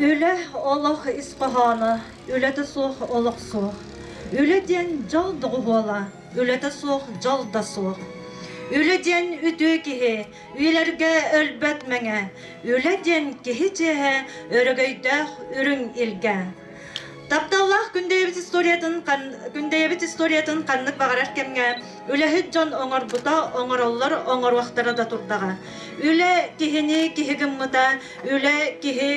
Үлэ олох ис хоһооно, үлэтэ суох олох суох. Үлэ диэн дьол доҕуһуола, үлэтэ суох дьол да суох. Үлэ диэн үтүө киһи, үйэлэргэ өлбөт мэҥэ. Үлэ диэн киһи чиэһэ, өрөгөйдөөх үрүҥ илгэ. Тапталлаах күндэйэбит историятын күндэйэбит историятын ханнык баҕарар кэмҥэ үлэһит дьон оҥорбута оҥороллор оҥоруохтара да турдаҕа. Үлэ киһини киһи гыммыта, үлэ киһи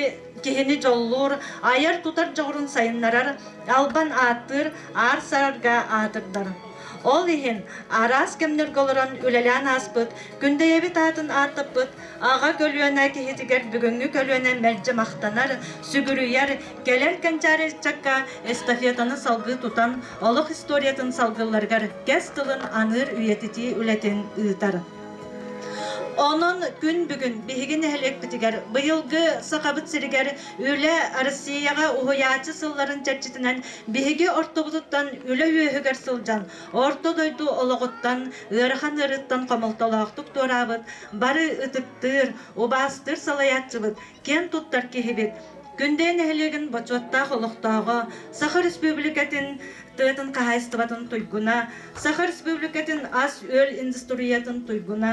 киһини дьоллуур, айар-тутар дьоҕурун сайыннарар, албан ааттыыр, аар сарарга аатырдар. Ол иһин араас кэмнэргэ олорон үлэлээн ааспыт, күндэйэбит аатын ааттаппыт Аҕа көлүөнэ киһитигэр бүгүҥҥү көлүөнэ мэлдьи махтанар, сүгүрүйэр, кэлэр кэнчээри ыччакка эстафетаны салгыы тутан, олох историятын салгылларыгар кэс тылын аныыр үйэтитии үлэтин ыытар. Онон күн бүгүн биһиги нэһилиэкпитигэр быйылгы Сахабыт сиригэр Үлэ Россияҕа уһуйааччы сылларын чэрчитинэн биһиги ортобутуттан үлэ үөһүгэр сылдьан, Орто дойду олоҕуттан, ыарахан ыарыыттан хомолтолоохтук туораабыт Бары ытыктыыр, убаастыыр салайааччыбыт, киэн туттар киһибит. Күндэй нэһилиэгин бочуоттаах олохтооҕо, Саха Республикатын тыатын хаһаайыстыбатын туйгуна, Саха Республикатын ас-үөл индустриятын туйгуна,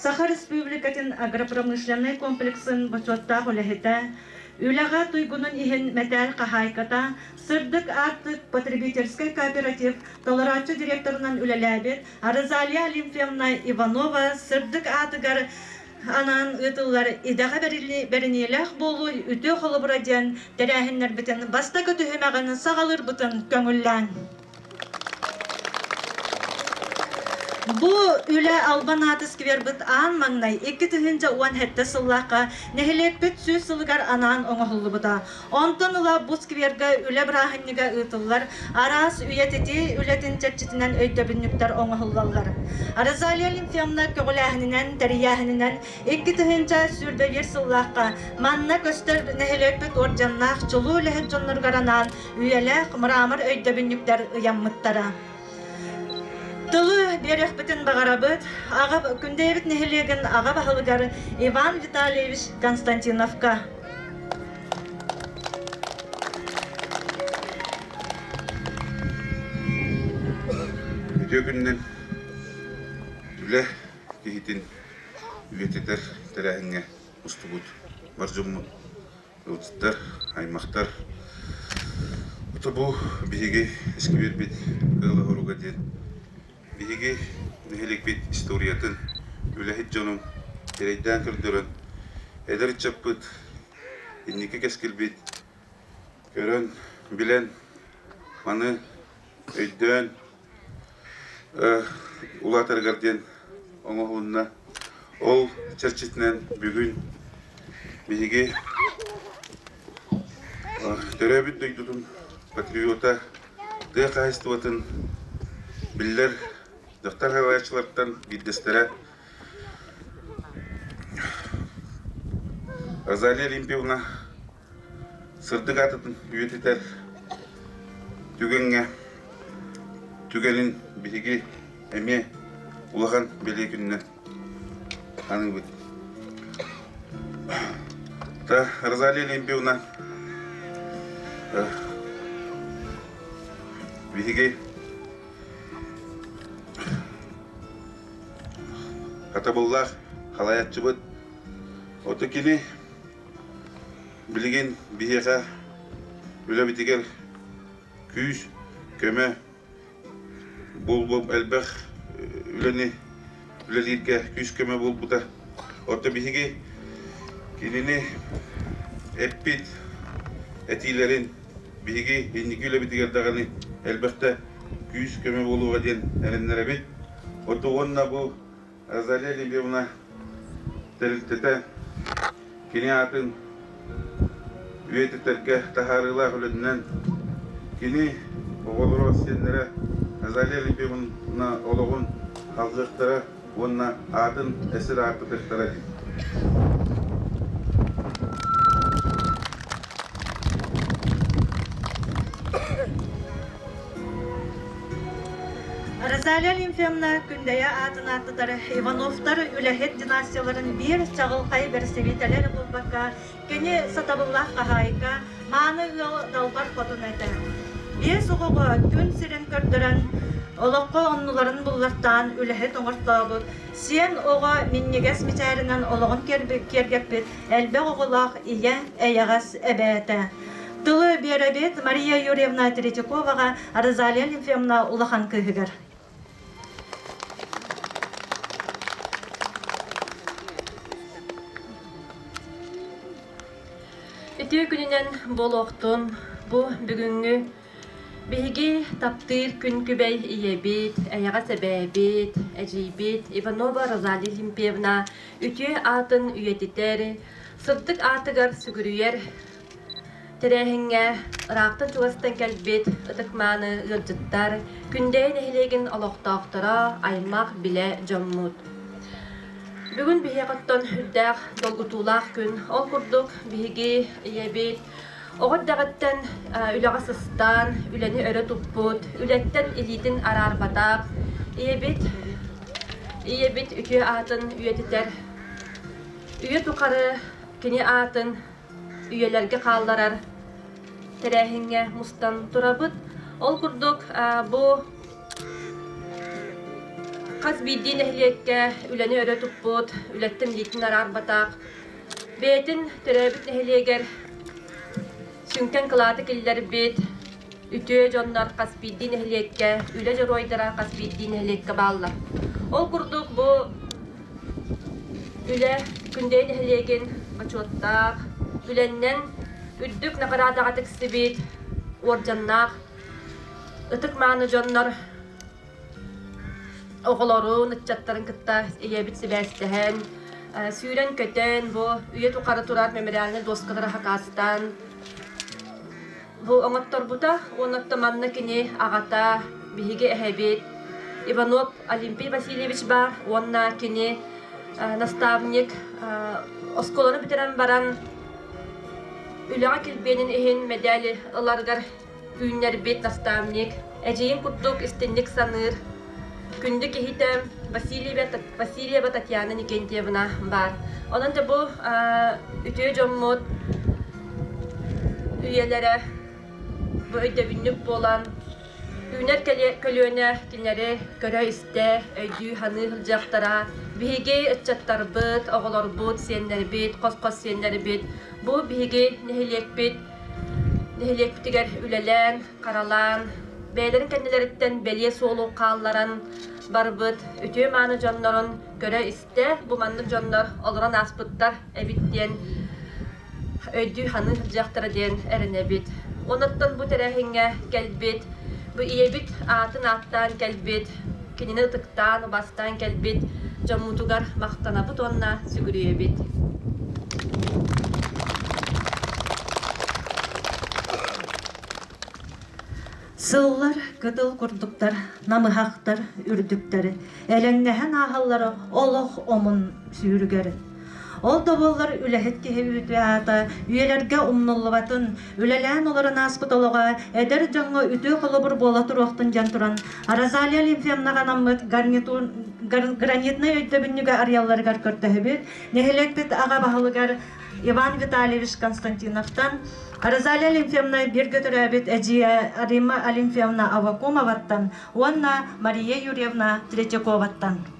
Саха Республикатын агропромышленнай комплексын бочуоттаах үлэһитэ, Үлэҕэ туйгунун иһин мэтээл хаһаайката, сырдык аартык потребительскай кооператив толорооччу директорунан үлэлээбит Розалия Олимпьевна Иванова сырдык аатыгар анаан ыытыллар Идэҕэ бэриниилээх буолуу үтүө холобура диэн тэрээһиннэрбитин бастакы түһүмэҕин саҕалыырбытын көҥүллээҥ. Бу үлэ албан ааты сквербит аан маҥнай 2 тыһыынча уон сэттэ сыллаахха нэһилиэкпит сүүс сылыгар анаан оҥоһуллубута. Онтон ыла бу сквергэ үлэ бырааһынньыга ыытыллар араас үйэтити үлэтин чэрчитинэн өйдөбүнньүктэр оҥоһуллаллар. Розалия Лимфевна көҕүлээһининэн, тэрийээһининэн икки тыһыынча сүүрбэбиэр сыллаахха манна көстөр нэһилиэкпит уордьаннаах чулуу үлэһит дьонноругар анаан үйэлээх мрамор өйдөбүнньүктэр ыйаммыттара. Тылы биэриэхпитин баҕарабыт аҕа Күндэйэбит нэһилиэгин аҕа баһылыгар Иван Витальевич Константиновка. Үтүө күнүнэн үлэ киһитин үйэтитэр тэрээһиҥҥэ устубут бар дьоммут, ыалдьыттар, аймахтар. Ото бу биһиги искибиэрбит Кыыл Оһуруга диэн Биһиги нэһилиэкпит историятын, үлэһит дьонун эрэйдээн көрдөрөн, эдэр ыччаппыт, инники кэскилбит көрөн, билэн, маны өйдөөн улаатарыгар диэн оҥоһунна. Ол чэрчитинэн бүгүн биһиги төрөөбүт дойдутун патриота тыа хаһаайыстыбатын биллэр дьахтар хаһаайаччылартан биирдэстэрэ Розалия Олимпьевна сырдык аатытын үйэтитэр түгэҥҥэ түгэнин биһиги эмиэ улахан бэлиэ күннэ аныыбыт Розалия Олимпиевна биһиги хатабыллаах халааччыбыт оту кини билигин биһиэхэ үлэбитигэр күүс көмө Буолбуом элбэх үлэни үлэлииргэ күүс-көмө буолбута. Оттон биһиги кинини эппит этиилэрин биһиги инники үлэбитигэр даҕаны элбэхтэ күүс-көмө буолуоҕа диэн эрэннэрэбит. Оттон уонна бу Заря Лебевна тэрилтэтэ кини аатын үйэтитэргэ таһаарыылаах үлэтинэн кини оҕолоро сиэннэрэ Азалия Лебедевна олоҕун алгыахтара уонна аатын эсир аартыкыттара дии. Розалия Лимфевна Күндэйэ аатын ааттатары Ивановтар үлэһит династияларын биир чаҕылхай бэрэстэбиитэлэр булбакка, кини сатабыллаах хаһаайка, мааны ыал далбар хотун этэ. Биэс оҕоҕо күн сирин көрдөрөн, олоххо оннуларын буллартаан үлэһит оҥортообут, сиэн оҕо минньигэс мичээринэн олоҕун киэргэппит элбэх оҕолоох ийэ, эйэҕэс эбээтэ. Тылы биэрэбит Мария Юрьевна Третьяковаҕа Розалия Лефевна улахан кыыһыгар. Итии күнүнэн буолуохтун бу бүгүҥҥү Биһиги таптыыр күн күбэй ийэбит, эйэҕэс эбээбит, эдьиийбит Иванова Розалия Илимпьевна үтүө аатын үйэтитэр, сырдык аатыгар сүгүрүйэр тэрээһиҥҥэ ыраахтан чугастан кэлбит ытык-мааны ыалдьыттар Күндэйэ нэһилиэгин олохтоохторо, аймах-билэ дьоммут. Бүгүн биһиэхиттэн үрдээх долгутуулаах күн. Ол курдук биһиги ийэбит Оҕо эрдэҕиттэн үлэҕэ сыстаан, үлэни өрө туппут, үлэттэн илиитин араарбатах ийэбит, ийэбит үтүө аатын үйэтитэр, үйэ тухары кини аатын үйэлэргэ хаалларар тэрээһиҥҥэ мустан турабыт. Ол курдук бу хас биирдии нэһилиэккэ үлэни өрө туппут, үлэттэн илиитин араарбатах Бэйэтин төрөөбүт нэһилиэгэр сүҥкэн кылааты киллэрбит үтүө дьоннор хас биирдии нэһилиэккэ, үлэ дьоруойдара хас биирдии нэһилиэккэ бааллар. Ол курдук бу үлэ Күндэйи нэһилиэгин бочуоттаах үлэннэн үрдүк наҕараадаҕа тиксибит уордьаннаах ытык мааны дьоннор оҕолорун, ыччаттарын кытта ийэбит сибээстэһэн, сүүрэн-көтөн, бу үйэ тухары турар мемориальнай дуоскалары хакаастаан бу оҥотторбута уонна манна кини аҕата, биһиги эһэбит Иванов Олимпий Васильевич баар уонна кини наставник оскуоланы бүтэрэн баран үлэҕэ килбиэнин иһин мэдээли ыларыгар Түүннэрбит наставник, эдьиийим курдук истинник саныыр, күндү киһитэ Васильева, Васильева Татьяна Никентьевна баар. Онон да бу үтүө дьоммут үйэлэрэ бу өйдөбүнньүк буолан, түүнэр көлүөнэ кинилэри көрө-истэ, өйдүү-саныы сылдьыахтара. Биһиги ыччаттарбыт, оҕолорбут, сиэннэрбит, хос-хос сиэннэрбит, бу биһиги нэһилиэкпит Нэһилиэкпитигэр үлэлээн, харалаан, бэйэлэрин кэннилэриттэн бэлиэ суолу хаалларан барбыт үтүө-мааны дьоннорун көрө-истэ бу маннык дьоннор олорон ааспыттар эбит диэн өйдүү-саныы сылдьыахтара диэн эрэнэбит. Онуттан бу тэрээһиҥҥэ кэлбит, бу ийэбит аатын ааттаан кэлбит Кинини ытыктаан, убастаан кэлбит дьоммутугар махтанабыт уонна сүгүрүйэбит. Сыллар кытыл курдуктар намыһахтар үрдүктэр элэҥнэһэн ааһаллара олох омун сүүрүгэр Ол да буоллар үлэһит киһи үүтү аата үйэлэргэ умнуллубатын, үлэлээн олорон ааспыт олоҕо эдэр дьоҥҥо үтүө холобур буола туруохтун диэн туран, Розалия Лимфевнаҕа анаммыт гарнитун, гар, гранитнай өйдөбүнньүгэ арыйалларыгар көрдөһөбүт. Нэһилиэкпит аҕа баһылыгар Иван Витальевич Константиновтан Розалия Лимфевна бииргэ төрөөбүт эдьиийэ Римма Алимфевна Авакумоваттан уонна Мария Юрьевна Третьяковаттан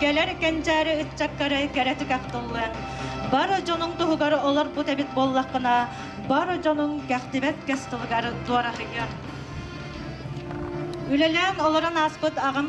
Кэлэр кэнчээри ыччаккары кэрэ түгэхтуллан, бары дьонуҥ туһугар олорбут эбит буоллаххына, бары дьонуҥ кэхтибэт кэс тылыгар дуораһыйар. Үлэлээн олорон ааспыт аҕам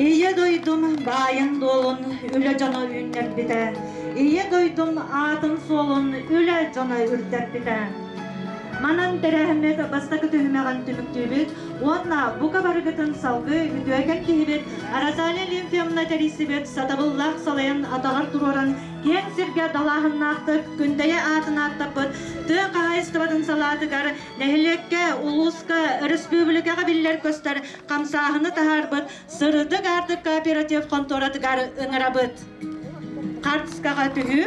Ийэ дойдум баайын-дуолун үлэ дьоно үүннэрбитэ. Ийэ дойдум аатын-суолун үлэ дьоно үрдэрбитэ. Манан тэрээһиммит бастакы түһүмэҕин түмүктүүбүт Уонна бука барыгытын салгыы үтүөкэн киһибит Розалия Лимфьевна тэрийсибит сатабыллаах салайан атаҕар туруоран киэҥ сиргэ далааһыннаахтык Күндэйэ аатын ааттаппыт тыа хаһаайыстыбатын салаатыгар нэһилиэккэ, улууска, өрөспүүбүлүкэҕэ биллэр-көстөр хамсааһыны таһаарбыт Сырдык аартык кооператив хонтуоратыгар ыҥырабыт. Хартыскаҕа түһүү.